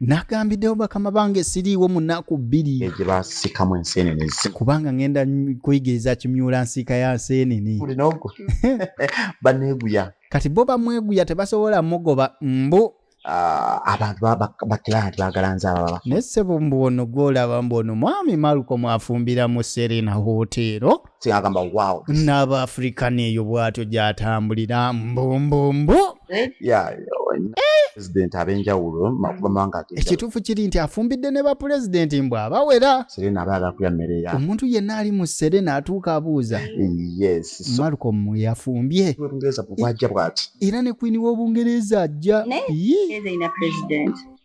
Speaker 7: nagambiddewo
Speaker 1: bakama bange siriiwo mu nnaku bbiri gye basikamu
Speaker 7: enseenene kubanga ngenda
Speaker 1: kuyigiriza kimyula nsiika ya nseenene
Speaker 7: baneeguya kati bo
Speaker 1: bamweguya tebasobola mugoba mbu Ah, abantu
Speaker 7: bakirani bagala nzababa naye ssebo mbu ono
Speaker 1: gwolaba mbu ono mwami malko mwafumbira mu serena hoteero kyagamba wow
Speaker 7: n'aba afirika neeyo
Speaker 1: bwatyo gyatambulira mbumbumbu eh?
Speaker 7: pulezidenti ab'enjawulo mawanga ekituufu kiri nti
Speaker 1: afumbidde ne bapulezidenti mbu abawera serena aba agakulya mmere
Speaker 7: ya omuntu yenna ali mu
Speaker 1: serena atuuka abuuza yes malcom yafumbye obungereza bwajja
Speaker 7: bwati era ne kwini
Speaker 1: w'obungereza ajja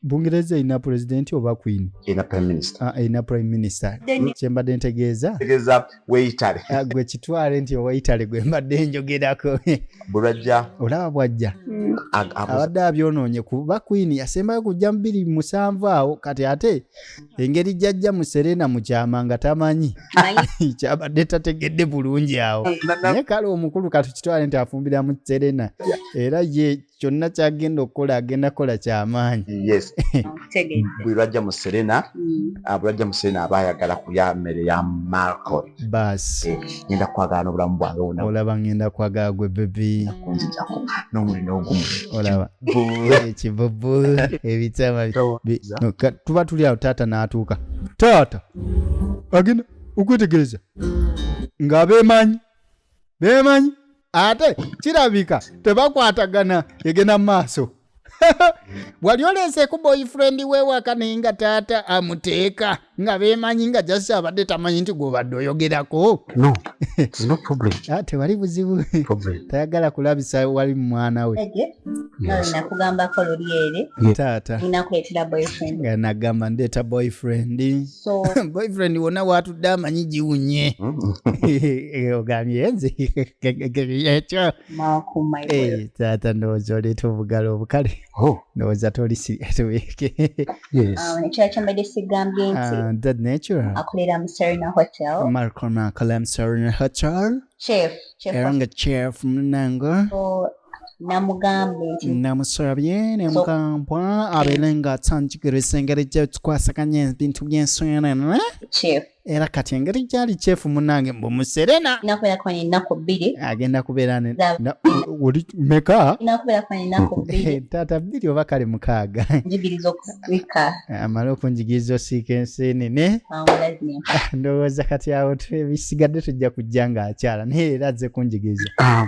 Speaker 1: bungereza erina pulezidenti oba queen erina prime minister ah,
Speaker 7: erina prime minister
Speaker 1: kyembadde ntegeeza tegeeza weitale
Speaker 7: ah, gwe kitwale
Speaker 1: nti oweitale gwe mbadde njogerako bulwajja
Speaker 7: olaba bwajja
Speaker 1: mm. abadde abyonoonye kuba queen yasembayo kujja mu biri musanvu awo kati ate engeri jajja mu serena mukyama nga tamanyi kyabadde tategedde bulungi awo naye kale omukulu katukitwale nti afumbira mu serena era ye kyonna kyagenda okukola agenda kola kyamaanyi yes
Speaker 7: buli lwajja mu serena mm. ah, bulajja mu serena aba ayagala kulya mmere ya marco bas eh,
Speaker 1: ngenda kwagala
Speaker 7: n'obulamu bwange wona olaba ngenda kwagala
Speaker 1: gwe bebi kunzijako n'omuli
Speaker 7: n'ogumu olaba
Speaker 1: ekibubu ebitama tuba tuli awo taata n'atuuka taata agenda okwetegereza ng'abeemanyi beemanyi ate kirabika tebakwatagana egenda maaso wali oleeseeku boyfriend wewaka naye nga taata amuteeka nga bemanyi nga jasi abadde tamanyi nti gwobadde oyogerako
Speaker 8: ah, tewali buzibu
Speaker 1: tayagala kulabisa wali mumwana we
Speaker 9: nagamba ndeeta
Speaker 1: boyfriend so
Speaker 9: boyfriend wona
Speaker 1: watudde amanyi giwunye hmm? eh, ogambye nze ekyo eh, taata ndowooza oleeta obugalo obukale oh. ndowooza toliekyekyambadde ah,
Speaker 9: sigambye ntiakolera
Speaker 1: ah,
Speaker 9: mu serena hotel marcon akola mu
Speaker 1: serena hotel
Speaker 9: era nga
Speaker 1: chef munango
Speaker 9: namugambye nti namusabye
Speaker 1: nemugambwa abeere nga atanjigiriza engeri gyetukwasaganya ebintu by'ensonene
Speaker 9: era kati engeri
Speaker 1: gyali kyefu munange mbu muserena
Speaker 9: agenda kubeera
Speaker 1: oli meka
Speaker 9: taata bbiri oba kale
Speaker 1: mukaaga
Speaker 9: amale okunjigiriza
Speaker 1: osiika ensenene ndowooza kati awo ebisigadde tujja kujja ng'akyala naye era azze kunjigiriza ah.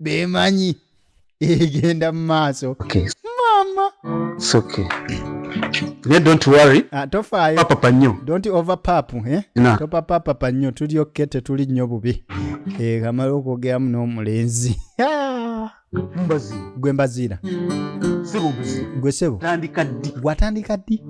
Speaker 1: bemanyi egenda mu maaso mama
Speaker 8: naye don't worry ah, tofaayo papapa
Speaker 1: nnyo don't
Speaker 8: over pap eh?
Speaker 1: topapapapa nnyo tuli okke tetuli nnyo bubi eh, kamala okwogeramu n'omulenzi
Speaker 8: mbazi gwe mbaziira
Speaker 1: sebo
Speaker 8: mbazi gwe sebo tandika
Speaker 1: ddi gwatandika ddi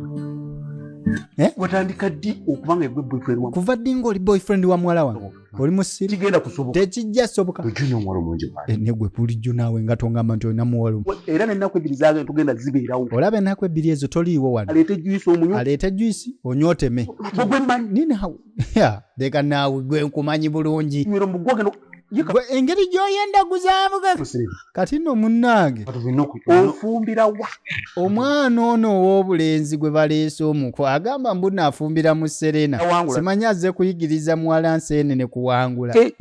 Speaker 1: eh? watandika
Speaker 8: ddi okuba nga egwe boyfriend wa kuva ddi ng'oli boyfriend
Speaker 1: wa muwala wange oli musiru kigenda kusoboka tekijja
Speaker 8: soboka ojuna
Speaker 1: omuwala omulungi mwana
Speaker 8: eh, negwe bulijjo naawe
Speaker 1: nga tongamba nti olina muwala era nenaku ebbiri zaage
Speaker 8: tugenda zibeerawo olaba enaku ebbiri ezo
Speaker 1: toliiwo wano aleete juisi omunywa aleete juisi onyoteme ogwe manyi nini
Speaker 8: hawe ya
Speaker 1: leka naawe gwe nkumanyi bulungi engeri gyoyenda guzaamuga kati no munnange ofumbira
Speaker 8: wa omwana
Speaker 1: ono ow'obulenzi gwe baleese omuko agamba mbu naafumbira mu serena simanyi azze kuyigiriza muwala nseene ne kuwangula eh,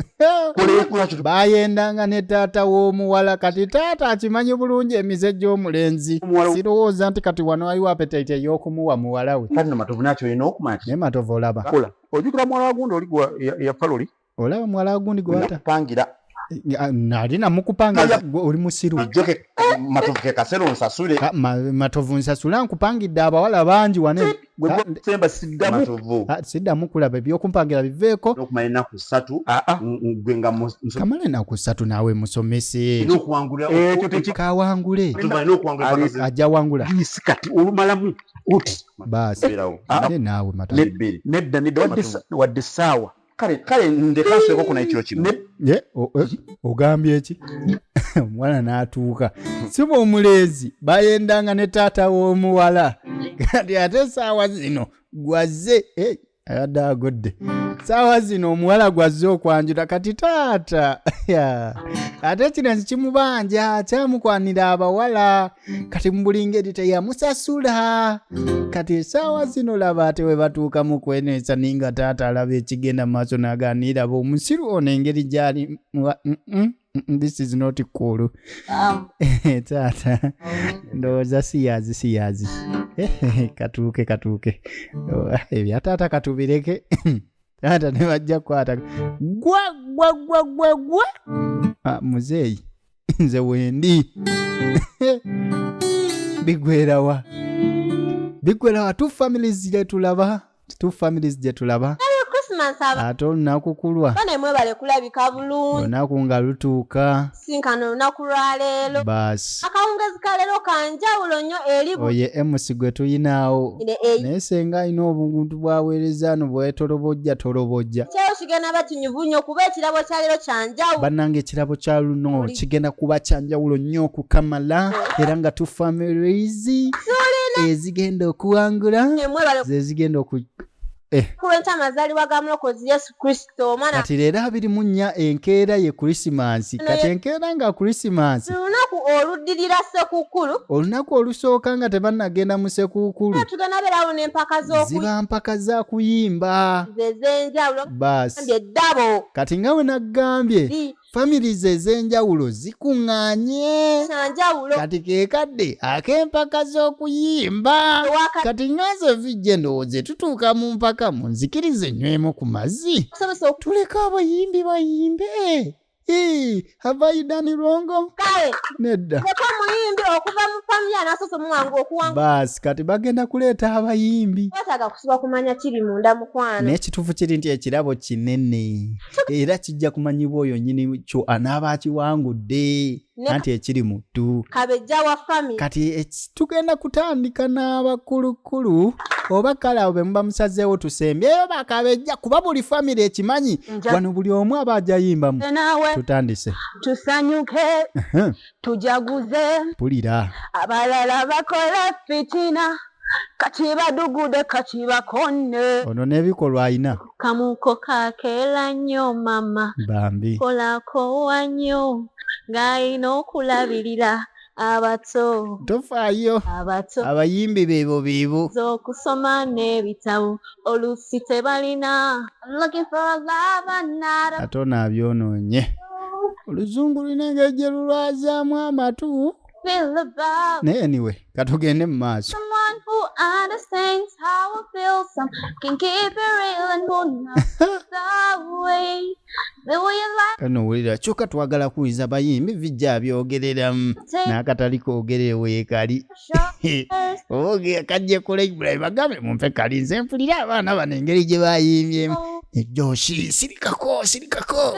Speaker 1: bayendanga ne taata w'omuwala kati taata akimanyi bulungi emize gy'omulenzi sirowooza nti kati wano waliwo apetaiti ey'okumuwa muwala we ne
Speaker 7: matovu olaba
Speaker 1: ojukira muwala wagunda
Speaker 8: oli yafa luli olaba muwala wagundi
Speaker 1: gwewatapangira
Speaker 7: eh, nali
Speaker 1: namukupanga oli musiru
Speaker 7: matovu kekasero nsasule ah, matovu
Speaker 1: nsasula nkupangidde abawala bangi wane
Speaker 8: siddamu
Speaker 7: kulaba
Speaker 1: ebyokumpangira biveeko
Speaker 7: kamala enaku
Speaker 1: satu naawe musomese
Speaker 8: kawangule
Speaker 1: ajja wangula baasi naawe
Speaker 8: mata
Speaker 1: nedda nedda
Speaker 8: wadde saawa kale kale
Speaker 7: ndeka nseko kuna ekiro kino ye eh,
Speaker 1: ogambye eki omuwala n'atuuka siba omulenzi bayendanga ne taata w'omuwala kati ate esaawa zino gwazze eh, ayadde agodde saawa zino omuwala gwazze okwanjula kati taata ate kino nzi kimubanja kyamukwanira abawala kati mubuli ngeri teyamusasula kati esaawa zino laba ate we batuuka mu kweneesa naye nga taata alaba ekigenda mu maaso n'agaaniira ba omusiru ono engeri gyali this is not cool taata ndowooza siyazi siyazi katuuke katuuke ebya oh, taata katubireke taata ne bajja kukwata gwa gwa gwa gwa gwa ah, muzeeyi nze wendi bigwerawa bigwerawa two families gyetulaba two families gyetulaba ate olunaku kulwa nemwebale kulabika
Speaker 3: bulungi olunaku nga lutuuka
Speaker 1: sinkana olunaku
Speaker 3: lwaleero basi akawungezi
Speaker 1: kaleero
Speaker 3: kanjawulo nnyo eri oye emusi gwe
Speaker 1: tuyinaawo naye senga alina obuntu bwaweereza no bwetolobojja tolobojja
Speaker 3: nyuvu nyo kuba ekirabo kya lero kyanjawu banange ekirabo kya
Speaker 1: luno kigenda kuba kyanjawulo nyo okukamala oh. era nga tu families ezigenda okuwangula zezigenda oku eh.
Speaker 3: kulwenkyamazaliwa ga mulokozi yesu kristo omwana kati leero abiri mu nnya
Speaker 1: enkeera ye krisimansi kati enkeera nga krisimansi olunaku oluddirira
Speaker 3: sekukkulu olunaku olusooka
Speaker 1: nga tebannagenda mu sekuukulu tugenda beerawo n'empaka
Speaker 3: z'okuziba mpaka za
Speaker 1: kuyimba zezenjawulo
Speaker 3: baasi
Speaker 1: kati
Speaker 3: nga we
Speaker 1: naggambye families ez'enjawulo zikuŋŋanye kati ke kadde ak'empaka z'okuyimba kati nga nze vijje ndowooze tutuuka mu mpaka munzikirize nywemu ku mazzi tuleke abayimbi bayimbe Hii, have I done wrong? Kale, nedda. Yeko muyimbi
Speaker 3: okuva mu family anasose mwangu okuwanga. Bas, kati bagenda
Speaker 1: kuleeta abayimbi. Wataga kusiba kumanya
Speaker 3: kiri munda mukwano. Ne kitufu kiri nti
Speaker 1: ekirabo kinene. Era kijja kumanyibwa oyo nyini kyo anaaba akiwangudde. anti ekiri mu ddu
Speaker 3: kati tugenda
Speaker 1: kutandika n'abakulukkulu oba kale awo bemuba musazeewo tusembyeyo bakabejja kuba buli famiry ekimanyi wano buli omu aba ajayimbamu tutandise tusanyuke
Speaker 10: tujaguze pulira
Speaker 1: abalala
Speaker 10: bakola fitina kakibadugude kakibakonne ono n'ebikolwa
Speaker 1: ayina kamuko
Speaker 10: kakeela nnyo mama bambi
Speaker 1: kolakowa
Speaker 10: nnyo ng'alina okulabirira abato tofaayo
Speaker 1: abato abayimbi
Speaker 10: beebo
Speaker 1: beebo z'okusoma
Speaker 10: n'ebitabo oluusi tebalina ate ono abyonoonye
Speaker 1: oluzungu lulina engeri gye lulwazaamu amatu naye anyway katugende mu maaso
Speaker 10: kano wulira kyokka
Speaker 1: twagala kuwuliza bayimbi vijja byogereramu n'akatali kogerere weekali oge kajje kula ibulayi bagambe mumpe kali nze mpulira abaana bano engeri gye bayimbyemu ejoshi sirikako sirikako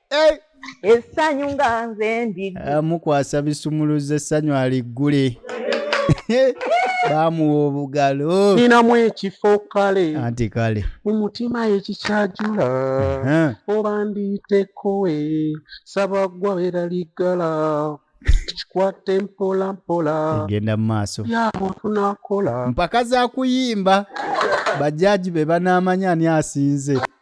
Speaker 2: eh! essanyu nga nze ndimukwasa eh,
Speaker 1: bisumuluza essanyu aliggule bamuwa obugalo ninamu ekifo
Speaker 8: kale anti kale mu
Speaker 1: mutima
Speaker 8: ekikyajula oba ndiitekowe saba gwa era liggala kikwate mpola mpola genda mu maaso
Speaker 1: yamuntu nakola
Speaker 8: mpaka za
Speaker 1: kuyimba bajaji be banaamanya ani asinze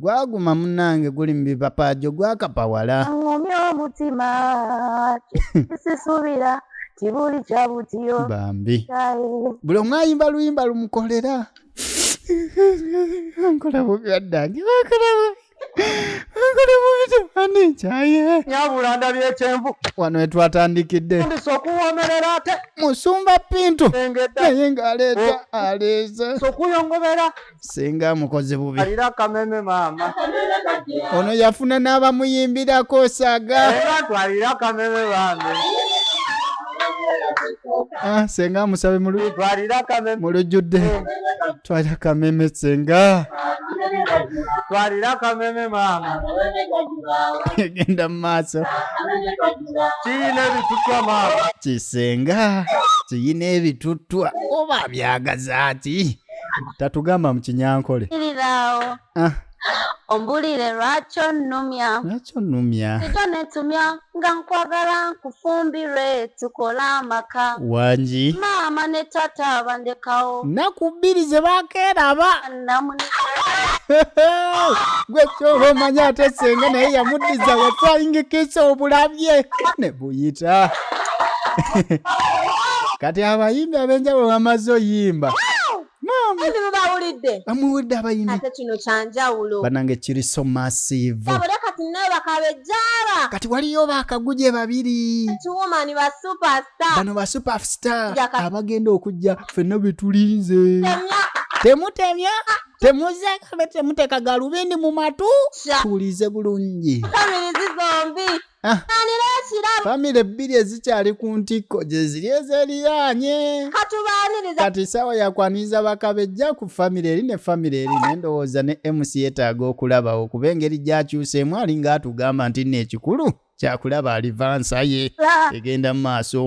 Speaker 1: Gwaguma munange guli mubipapajo gwakapawala. Ngumya omutima
Speaker 10: kisisubira tibuli kyabutiyo. Bambi.
Speaker 1: Buli omu ayimba luyimba lumukolera. Nkola bubi addange. Nkola bubi. Nkola bubi temani
Speaker 8: nkyaye. Nyabula ndabye ekyenvu. Wano wetwatandikidde.
Speaker 1: Ndisa okuwomerera
Speaker 8: ate. Musumba Pintu.
Speaker 1: Naye nga aleeta oh. aleeze. Sokuyongobera.
Speaker 8: singa amukoze
Speaker 1: bubi alira kameme maama
Speaker 8: ono
Speaker 1: yafuna n'abamuyimbirako saga era twalira
Speaker 8: kameme bambi
Speaker 1: Ah, senga amusabe mu lu- twalira kameme mu lujjudde twalira kameme senga
Speaker 8: twalira kameme maama
Speaker 1: egenda mu maaso
Speaker 8: kiyina ebitutwa maama kisenga
Speaker 1: kiyina ebituttwa oba byagaza ki tatugamba mu kinyankole irirawo
Speaker 10: ah. ombulire lwaki onnumya lwaki onnumya
Speaker 1: sijo netumya
Speaker 10: nga nkwagala nkufumbirwe tukole amaka wangi
Speaker 1: maama ne tata
Speaker 10: bandekawo
Speaker 1: naku
Speaker 10: bbiri ze
Speaker 1: bakeeraba gwe kyoba omanya ate senga naye yamuddiza wafayingikisa obulabye kuyita kati abayimbi abenjawulo bamaze oyimba
Speaker 3: bamuwulidde abayimbi banange kiri so
Speaker 1: massive
Speaker 3: kati waliyo
Speaker 1: bakaguje babiri
Speaker 3: bano ba superstar
Speaker 1: abagenda okujja fenna betulinze temutemya temuzekabe temuteka galubindi mu matu tuwulize bulungi
Speaker 3: Ah.
Speaker 1: famire bbiri ezikyali ku ntikko gye ziri ezeriraanye
Speaker 3: kati saawa yakwaniriza
Speaker 1: bakabejja ku famire eri ne famire eri nendowooza ne mc yetaaga okulabawo kuba engeri gyakyuseemu ali nga atugamba nti nno ekikulu kyakulaba alivansa ye egenda mu maaso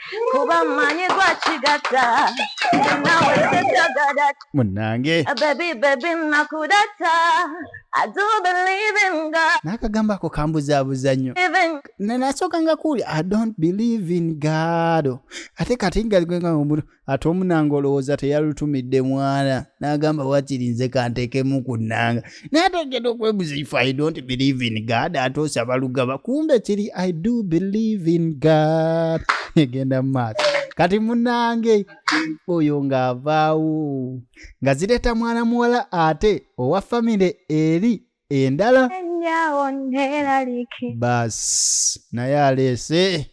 Speaker 4: kuba mmanyi gwakigatta nawe tetagada munange eh,
Speaker 1: bebi bebi
Speaker 4: nakudata n'akagambo ako
Speaker 1: kambuzaabuza nnyo nasooka nga kuuli i don't believe in god ate kati ngaomuntu ate omunanga olowooza teyalutumidde mwana n'agamba wakiri nze kanteekemu ku nnanga naye ate ogenda okwebuza if i don't believe in god ate osaba lugaba kumbe kiri i do believe in god egenda mu maaso kati munange oyo ng'avaawo nga zireeta mwana muwala ate owa famire eri endala baasi naye aleese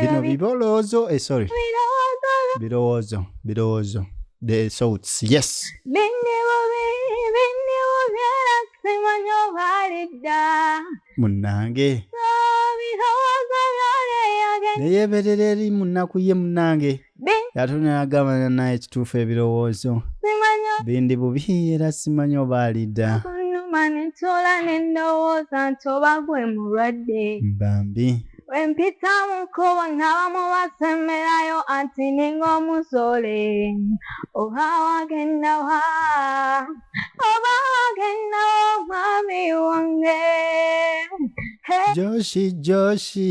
Speaker 10: bino
Speaker 1: biboloozo eh, sorry birowoozo birowoozo the thoughts yes
Speaker 10: munange neyeberera eri
Speaker 1: munaku ye munange yatunagamba nanaye ekituufu ebirowoozo bindi bubi era simanyi oba alidda manitola
Speaker 10: nendowooza nti oba gwe mulwadde bambi
Speaker 1: wempita
Speaker 10: mukubo ngabamu basemberayo anti ninga omuzole oba wagendawa oba wagendawa omwami wange joshi joshi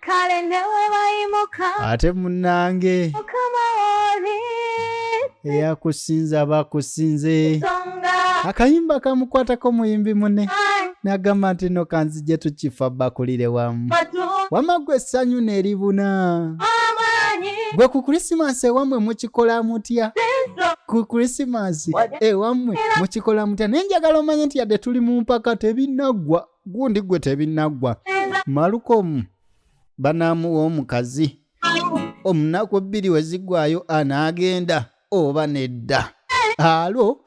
Speaker 10: kale newebayimuka ate munange
Speaker 1: mukama
Speaker 10: woli
Speaker 1: eyakusinza bakusinze songa akayimba kamukwatako muyimbi mune nagamba nti no kanzije tukifa bakulire wamu batu wama gwe essanyu neribuna amanyi gwe ku krisimasi ewammwe mukikola mutya sinso ku krisimasi ewammwe mukikola mutya naye njagala omanye nti yadde tuli mu mpaka tebinaggwa gundi gwe tebinaggwa malukomu banaamuwa omukazi omunaku bbiri we ziggwayo anaagenda oba nedda alo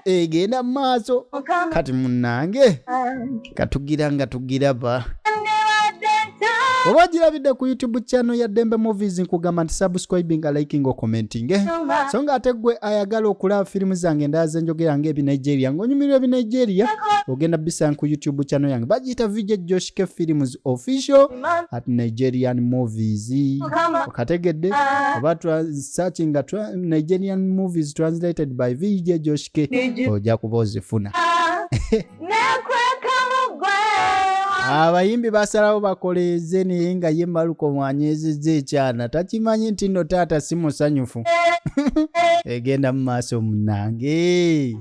Speaker 1: egenda mu maaso kati munnange katugira nga tugiraba oba ogirabidde ku youtube channel ya dembe movies nkugamba nti subscribing liking okomentinge so nga ate gwe ayagala okulaba firimu zange endala zenjogera nga ebinigeria ng'onyumirwa ebi nigeria ogenda bisanga ku youtube channel yange bagiyita vj josh k films official at nigerian movies okategedde oba searching nga nigerian movies translated by vj josh k ojja kuba ozifuna abayimbi basalawo bakoleeze naye nga ye maluko mwanyezeza ekyana takimanyi nti no taata si musanyufu egenda mu maaso munange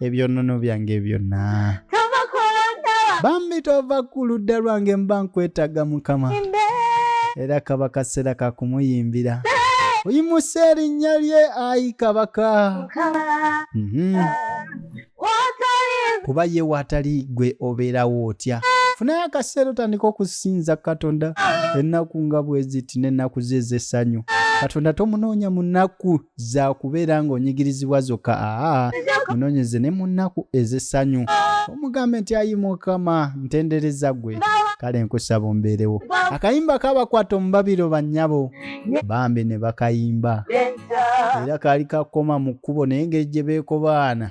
Speaker 1: ebyonnono byange byonna bambi tova ku ludda lwange mba nkwetaaga mukama era kaba kaseera ka kumuyimbira oyimuse erinnya lye ayi kabaka mhm. kuba ye waatali gwe obeerawo otya funayo akaseera otandika okusinza katonda ennaku nga bweziti n'ennaku ze ez'essanyu katonda tomunoonya mu nnaku zakubeera ng'onyigirizibwa zokka aa munonyeze ne mu nnaku ez'essanyu omugambe nti ayi mukama ntendereza gwe kale nkusaba ombeerewo akayimba kabakwata omubabiro bannyabo bambi ne bakayimba era kaali kakoma mu kkubo naye ngeri gye beekobaana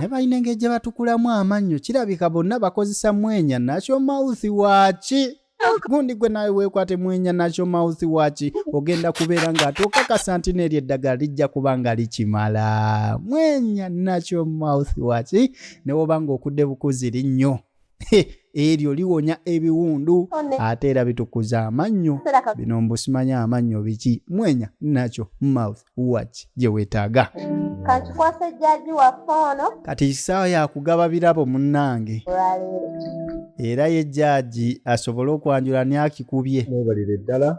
Speaker 1: ne balina engeri gye batukulamu amannyo kirabika bonna bakozesa mwenya nakyo mawuthi waaki gundi gwe nawe wekwate mwenya nakyo mawuthi waaki ogenda kubeera ng'ate okakasa nti n'eryo eddagala lijja kuba nga likimala mwenya nakyo mawuthi waaki ne woba ng'okudde bukuzi linnyo eryo liwonya ebiwundu ate era bitukuza amannyo bino mbusimanya amannyo biki mwenya nakyo mouth watch gye weetaaga kankikwasa
Speaker 3: ejjaji waffe ono kati kisaawa
Speaker 1: yakugaba birabo munnange era ye jjaji asobole okwanjula niakikubye mwebalire ddala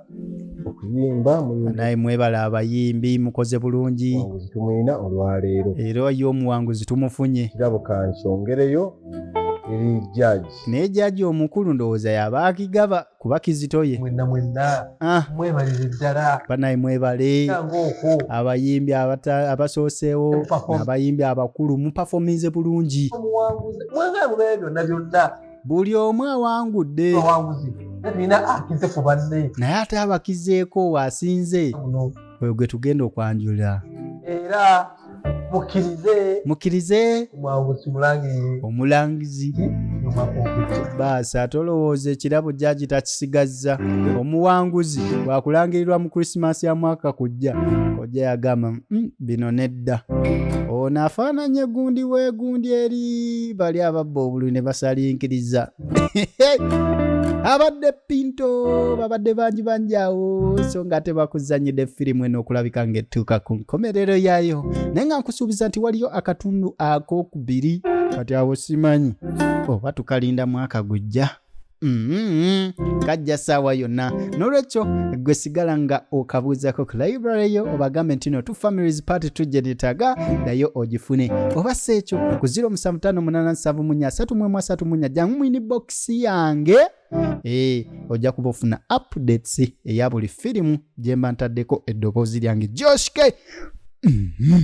Speaker 11: okuyimba naye mwebale
Speaker 1: abayimbi mukoze bulungi tumwina
Speaker 11: olwaleero era ye omuwanguzi
Speaker 1: tumufunye kirabo kansongereyo
Speaker 11: eri judge naye judge omukulu
Speaker 1: ndowooza yaba akigaba kuba kizitoye mwenna mwenna
Speaker 11: ah. mwebalire ddala banaye mwebale
Speaker 1: abayimbi abasooseewo abayimbi abakulu mupafominze bulungi mwagala mubeere byonna byonna buli omu awangudde naye ate abakizeeko waasinze oyo gwe tugenda okwanjulira era
Speaker 11: mukirize mukirize
Speaker 1: omwanguzi mulangirire omulangizi baasi ate olowooza ekirabo jjaji takisigazza omuwanguzi bwakulangirirwa mu krisimaasi ya mwaka kujja kojja yagamba mm, bino nedda ono afaananye gundi wegundi eri bali ababba obulwi ne basalinkiriza abadde pinto babadde bangi bangi awo so nga ate bakuzanyidde firimu eno okulabika ngaettuuka ku nkomerero yaayo naye nga nkusuubiza nti waliyo akatundu akokubiri kati awo simanyi oba oh, tukalinda mwaka gujja Mm-hmm. kajja saawa yonna nolwekyo gwe sigala nga okabuuzako ku library yo obagambe nti no tu families party tujje netaga nayo ogifune oba si ekyo ku 0 musanvu tano munana nsanvu munya asatu mwemu asatu munya jangu mwini bokisi yange Eh, ojja kuba ofuna updates eya buli firimu gye mba ntaddeko eddoboozi lyange joshke mm-hmm.